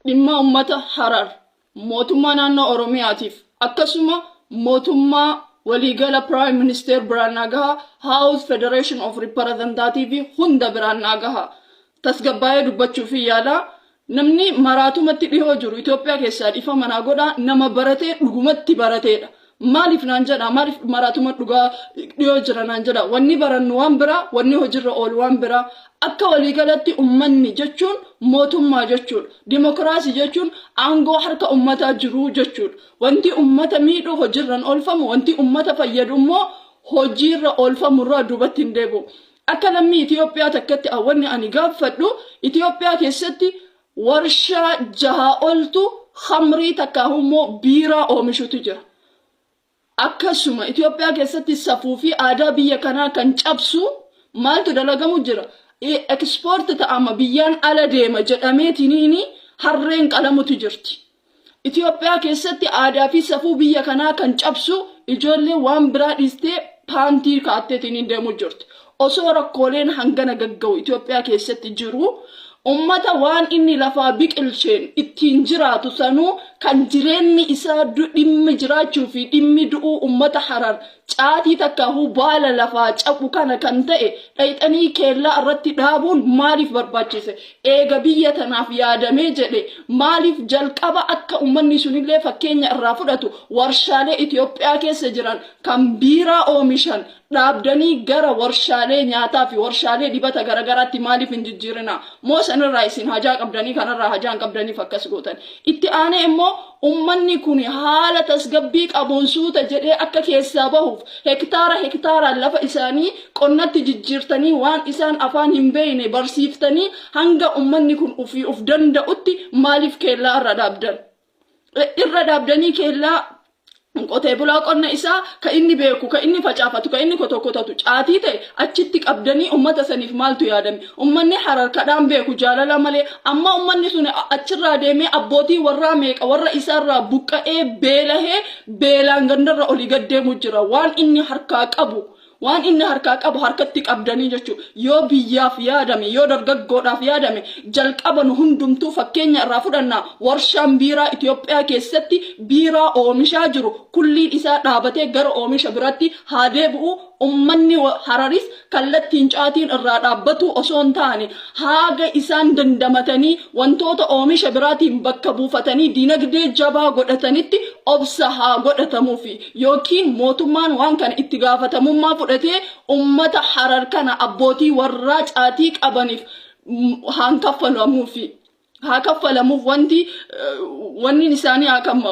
dhimma ummata Harar, mootummaa naannoo Oromiyaatiif akkasuma mootummaa waliigala Prime Minister biraan naa gaha, House Federation of Reparazantativi hunda biraan naa gaha. Tasgabbaa'ee dubbachuufin yaala. Namni maraatumatti dhihoo jiru Itoophiyaa keessaa dhiifama naa godhaa nama baratee dhugumatti barateedha. Maaliif naan jedha maaliif maraatuma dhugaa dhiyoo jira naan jedha wanni barannu waan biraa wanni hojiirra oolu waan biraa akka waliigalatti ummanni jechuun mootummaa jechuudha dimokiraasii jechuun aangoo harka ummataa jiruu jechuudha wanti ummata miidhu hojiirran oolfamu wanti ummata fayyadu immoo hojiirra oolfamurraa duubatti hin deebi'u akka lammii Itoophiyaa takkatti wanni ani gaaffadhu Itoophiyaa keessatti Warshaa jaha oltu khamrii takkaahu immoo biiraa oomishutu jira. Akkasuma Itoophiyaa keessatti safuu fi aadaa biyya kanaa kan cabsu maaltu dalagamu jira? Export ta'ama biyyaan ala deema jedhameetiniini harreen qalamutu jirti. Itoophiyaa keessatti aadaa fi safuu biyya kanaa kan cabsu ijoollee waan biraa dhiistee paantii kaatteetiin deemuu jirti. Osoo rakkooleen hangana gagga'u Itoophiyaa keessatti jiru ummata waan inni lafaa biqilcheen ittiin jiraatu sanuu kan jireenni isaa dhimmi jiraachuu fi dhimmi du'uu ummata Harar Caatii takkaahuu baala lafaa caphu kana kan ta'e dhayxanii keellaa irratti dhaabuun maaliif barbaachise? Eega biyya tanaaf yaadamee jedhe maaliif jalqaba akka ummanni sunillee fakkeenya irraa fudhatu warshaalee Itoophiyaa keessa jiran kan biiraa oomishan dhaabdanii gara warshaalee nyaataa fi warshaalee dibata garagaraatti maaliif hin jijjiirinaa? Moo sanirraa isin hajaa qabdanii kanarraa hajaa hin qabdaniif akkas gootan? Itti aanee immoo Ummanni kun haala tasgabbii qabuun suuta jedhee akka keessaa bahuuf hektaara hektaaraan lafa isaanii qonnatti jijjiirtanii waan isaan afaan hin beekne barsiiftanii hanga ummanni kun ofii of danda'utti maaliif keellaa irra dhaabdan? Irra dhaabdanii keellaa Qotee bulaa qonna isaa ka inni beeku, ka inni facaafatu, ka inni kotokkotatu caatii ta'e achitti qabdanii ummata saniif maaltu yaadame? Ummanni Harar kadhaan beeku jaalala malee. Amma ummanni sun achirraa deemee abbootii warraa meeqa warra isaarraa buqqa'ee beelahee beelaan gandarra olii gad deemu jira. Waan inni harkaa qabu Waan inni harkaa qabu harkatti qabdanii jechuu yoo biyyaaf yaadame yoo dargaggoodhaaf yaadame jalqaba nu hundumtuu fakkeenya irraa fudhannaa warshaan biiraa Itoophiyaa keessatti biiraa oomishaa jiru kulliin isaa dhaabatee gara oomisha biraatti haa deebi'u ummanni hararis kallattiin caatiin irraa dhaabbatuu osoo hin taane haaga isaan dandamatanii wantoota oomisha biraatiin bakka buufatanii dinagdee jabaa godhatanitti obsa haa godhatamuufi. yookiin mootummaan waan kana itti gaafatamummaa fudhatee ummata Harar kana abbootii warraa caatii qabaniif haan kaffalamuufi. Haa kaffalamuuf wanti wanni isaanii haa kamma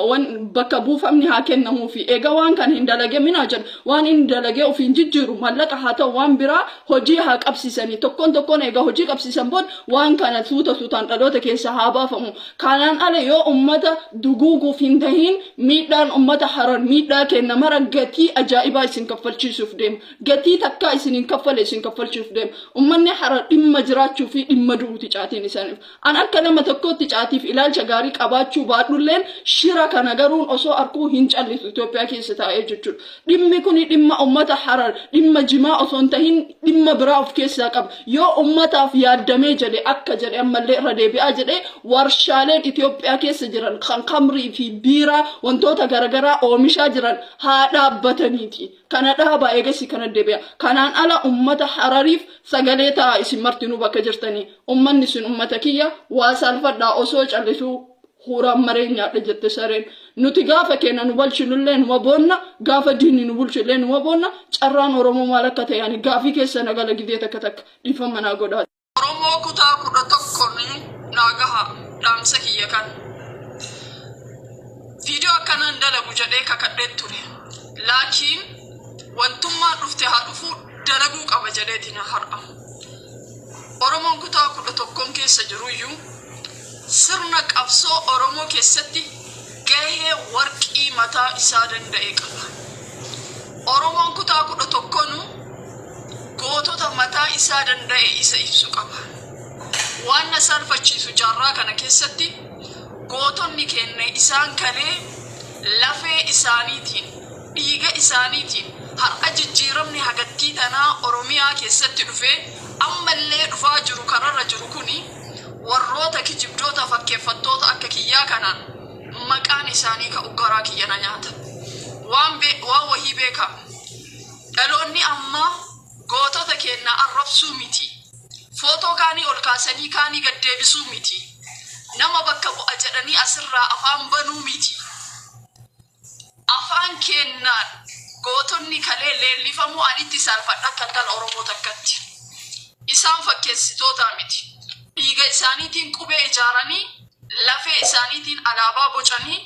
bakka buufamni haa kennamuufi. Eega waan kana hin dalage minaa jedhu waan inni dalagee ofiin jijjiiru mallaqa haa ta'u waan biraa hojii haa qabsiisanii. Tokkoon tokkoon eega hojii qabsiisan booda waan kana suuta suutaan dhaloota keessa haa baafamu. Kanaan ala yoo ummata duguuguuf hin tahin miidhaan ummata Harar miidhaa keenna mara gatii ajaa'ibaa isin kaffalchiisuuf deema. Gatii takkaa isin hin kaffale isin kaffalchuuf deema. Ummanni Harar dhimma jiraachuu fi dhimma du'uuti caatiin isaaniif. An akka nama tokkootti caatiif ilaalcha gaarii qabaachuu baadhulleen shira kana garuun osoo arkuu hin callisu Itoophiyaa keessa taa'ee jechuudha. Dhimmi kuni dhimma ummata Harar, dhimma Jimaa osoo hin tahin dhimma biraa of keessaa qaba. Yoo ummataaf yaaddamee jedhe akka jedhe ammallee irra deebi'aa jedhe warshaaleen Itoophiyaa keessa jiran kan kamrii fi biiraa wantoota garagaraa oomishaa jiran haa dhaabbataniiti. Kana dhaabaa eegasii kana deebi'a. Kanaan ala ummata Harariif sagalee ta'a isin martinuu bakka jirtanii. Ummanni isin ummata kiyya waa saalfadhaa osoo callisuu Huuraan maree nyaadha jette sareen. Nuti gaafa keena nu balchinullee numa boonna, gaafa diinni nu bulchu illee numa boonna, carraan Oromoo maal akka ta'e ani gaafii keessa na gala gidee takka takka. Dhiifamma naa godhaa. Oromoo kutaa kudha tokko mee naa gahaa dhaamsa kiyya kan. Video akkanaa hin dalagu jedhee kakadheen ture. Laakiin wantummaan dhufte haa dhufuu dalaguu qaba jedheetina har'a. Oromoon kutaa kudha tokkoon keessa jiruyyuu Sirna qabsoo Oromoo keessatti gahee warqii mataa isaa danda'e qaba. Oromoon kutaa 11nu gootota mataa isaa danda'e isa ibsu qaba. Waan na saalfachiisu jaarraa kana keessatti gootonni keenya isaan kalee lafee isaaniitiin, dhiiga isaaniitiin har'a jijjiiramni hagattii tanaa Oromiyaa keessatti dhufee ammallee dhufaa jiru kararra jiru kuni, Warroota kijibdoota fakkeeffattoota akka kiyyaa kana maqaan isaanii ka'u garaa kiyya na nyaata. Waan be, waan wahii beekaa. Dhaloonni ammaa gootota keennaa arrabsuu miti. Footoo kaanii ol kaasanii kaanii gad deebisuu miti. Nama bakka bu'a jedhanii asirraa afaan banuu miti. Afaan keennaan gootonni kalee leellifamuu ani itti saalfadha akka intal Oromoo takkatti. Isaan fakkeessitootaa miti. Dhiiga isaaniitiin qubee ijaaranii, lafee isaaniitiin alaabaa bocanii,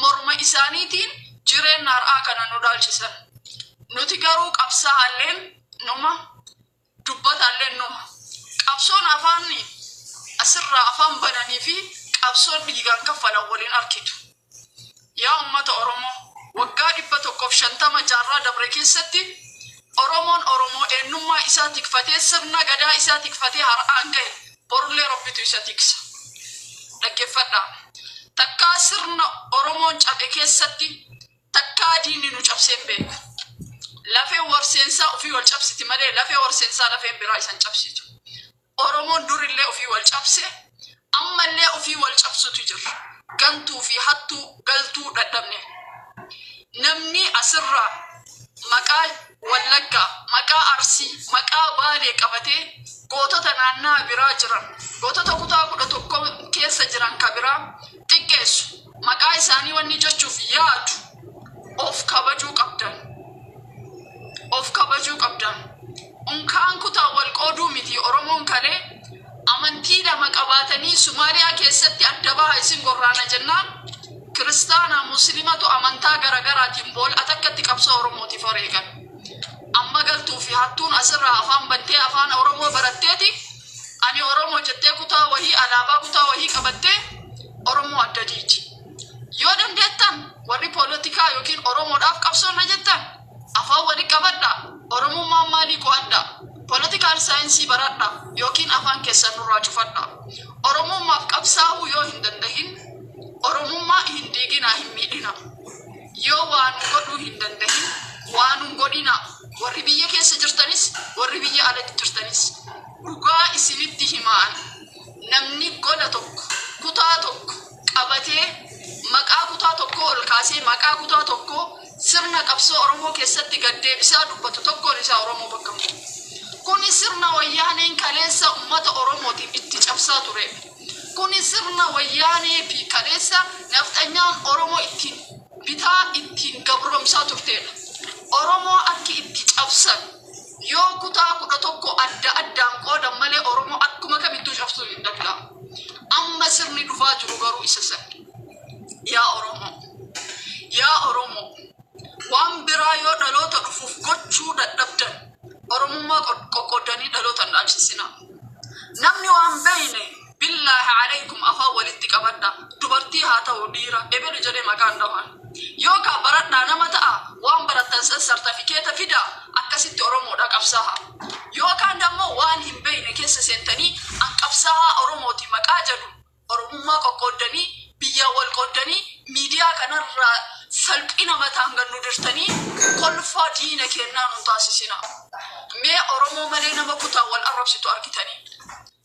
morma isaaniitiin jireenna har'aa kana nu dhaalchisan. Nuti garuu qabsaa'aalleen numa, dubbataallee innuma. Qabsoon afaan asirraa afaan bananii fi qabsoon dhiigaan kaffalan wal hin arkitu. Yaa ummata Oromoo, waggaa 150 jaarraa dabre keessatti Oromoon Oromoo eennummaa isaa tikfatee sirna gadaa isaa tikfatee har'aan gahe borullee Rabbitu isa tiksa. Dhaggeeffadhaa. Takkaa sirna Oromoon cabe keessatti Takkaa diinni nu cabsee hin beeku. Lafeen warseensaa ufii wal cabsiti malee lafee warseensaa lafeen biraa isan cabsitu. Oromoon dur illee ufii wal cabse amma illee ufii wal cabsutu jirra. Gantuu fi hattuu galtuu dhadhabne. Namni asirraa maqaa Wallaggaa, maqaa Arsii, maqaa Baalee qabatee gootota naannaa biraa jiran, gootota kutaa kudha tokko keessa jiran ka biraa xiqqeessu. Maqaa isaanii wanni jechuuf yaadu of kabajuu qabdan. Of kabajuu qabdan. Unkaan kutaan wal qooduu miti Oromoon kalee amantii lama qabaatanii Sumaaliyaa keessatti adda baha isin gorraana jennaan kiristaanaa muslimatu amantaa garagaraatiin bool atakkatti qabsoo Oromootiif wareegan. Amma galtuu fi hattuun asirraa afaan bantee afaan Oromoo baratteeti Ani Oromo jettee kutaa wahii alaabaa kutaa wahii qabattee Oromoo adda diigdi. Yoo dandeettan warri poolotikaa yookiin Oromoodhaaf qabsoonna jettan afaan wali qabadhaa, Oromummaan maalii qo'adhaa, political science baradhaa yookiin afaan keessan nurraa cufadhaa. Oromummaaf qabsaahuu yoo hin dandahin Oromummaa hin diiginaa hin miidhinaa. Yoo waa nu godhuu hin dandahin waa nun godhinaa. Warri biyya keessa jirtanis, warri biyya ala jirtanis dhugaa isinitti himaan namni gola tokko, kutaa tokko qabatee maqaa kutaa tokkoo ol kaasee maqaa kutaa tokkoo sirna qabsoo Oromoo keessatti gad deebisaa dubbatu tokkoon isaa Oromoo bakka hin bu'u. Kuni sirna wayyaaneen kaleessa uummata Oromootiif itti cabsaa ture. Kuni sirna wayyaanee fi kaleessa nafxanyaan Oromoo ittiin bitaa ittiin gabromsaa turteedha. Oromoo akki itti cabsan yoo kutaa 11 adda addaan qoodan malee Oromoo akkuma kamittuu cabsuun hin danda'amu. Amma sirni dhufaa jiru garuu isa san. Yaa Oromoo! Yaa Oromoo! Waan biraa yoo dhaloota dhufuuf gochuu dadhabdan Oromummaa qoqqoodanii dhalootan dhaabsisinaa. Namni waan beeyne Billaahi Aleykum afaan walitti qabadhaa dubartii haa ta'u dhiira ebelu jedhee maqaa hin dhahaan yookaa baradhaa nama ta'aa waan barattan san sartafikeeta fidaa akkasitti oromoodhaa qabsaahaa yookaan dammoo waan hin beyne keessa seentanii an qabsaahaa oromooti maqaa jedhuun oromummaa qoqqooddanii biyyaa wal qooddanii miidiyaa kanarraa salphina mataan gad nu dirtanii kolfaa diina keennaa nun taasisinaa mee oromoo malee nama kutaa wal arrabsitu argitanii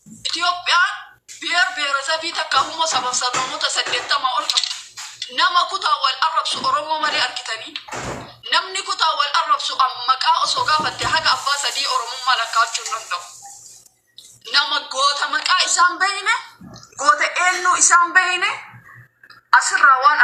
Itoophiyaan biyer biyeresebii takka hummoo sabaf sablamoota 80 ol qabdi. Nama kutaa wal arrabsu Oromoo malee argitanii? Namni kutaa wal arrabsu an maqaa osoo gaafatte haga abbaa sadii Oromummaa lakkaa'achuu hin danda'u. Nama goota maqaa isaa hin beeyne, goota eennuu isaa hin beeyne asirraa waan